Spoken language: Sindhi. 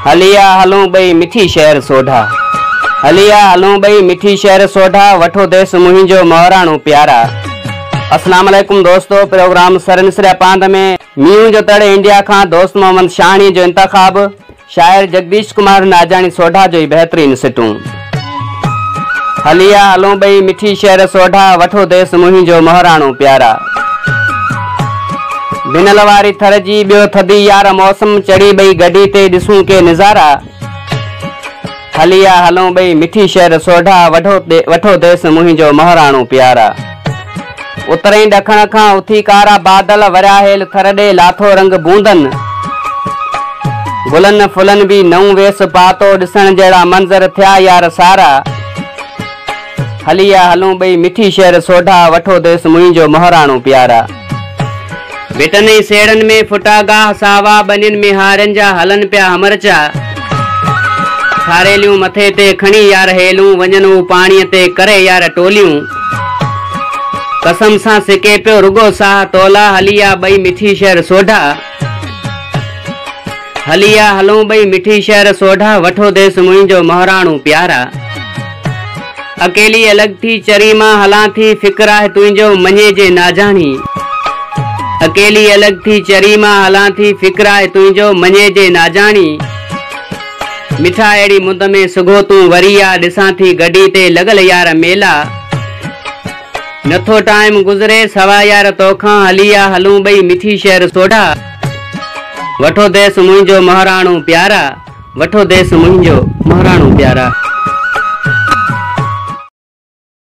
هلي آ هلون ٻئي مٺي شهر سوڍا. هلي آ هلون ٻئي مٺي شهر سوڍا وٺو ديس منهنجو مهراڻو پيارا. اسلام عليڪم دوستو پروگرام سر مصريا پاند ۾ مينهن جو تڙ انڊيا کان دوست محمد شاهاڻي جو انتخاب. شاعر جڳديش ڪمار ناجاڻي سوڍا جو ئي بهترين سٽون. هلي آ هلون ٻئي مٺي شهر سوڍا وٺو ديس منهنجو مهراڻو پيارا. بنل واري ٿر جي ٻيو ٿڌي يار موسم چڙهي ٻئي گڏي تي ڏسون ڪي نظارا. هلي آ هلون ٻئي مٺي شهر سوڍا وٺو ديس منهنجو مهراڻو پيارا. اتر ۽ ڏکڻ کان اٿي ڪارا بادل ورهايل ٿر ڏي لاٿو رنگ بوندن گلن ڦلن به نئون ويس پاتو ڏسڻ جهڙا منظر ٿيا يار سارا هلي آ هلون ٻئي مٺي شهر سوڍا وٺو ديس منهنجو مهراڻو پيارا. ڀٽن ۽ سيڙهن ۾ ڦٽا گاهه ساوا، ٻنين ۾ هارين جا هلن پيا همرچا. ٿاريليون مٿي تي کڻي يار هيلون، وڃن هو پاڻيء تي ڪري يار ٽوليون. قسم سان سڪي پيو رڳو ساهه تولا، هلي آ ٻئي مٺي شهر سوڍا. هلي آ هلون ٻئي مٺي شهر سوڍا وٺو ديس منهنجو مهراڻو پيارا اڪيلي الڳ ٿي چري مان هلان ٿي فڪر آهي تنهنجو مڃي جي ناجاڻي اڪيلي الڳ ٿي چري مان هلان ٿي فڪر آهي تنهنجو مڃي جي ناجاڻي مٺا اهڙي مند ۾ سگهو تون وري آ ڏسان ٿي گڏي تي لڳل يار ميلا. نٿو ٽائيم گذري سوا يار توکان هلي آ هلون ٻئي مٺي شهر سوڍا وٺو ديس منهنجو مهراڻو پيارا وٺو ديس منهنجو مهراڻو پيارا.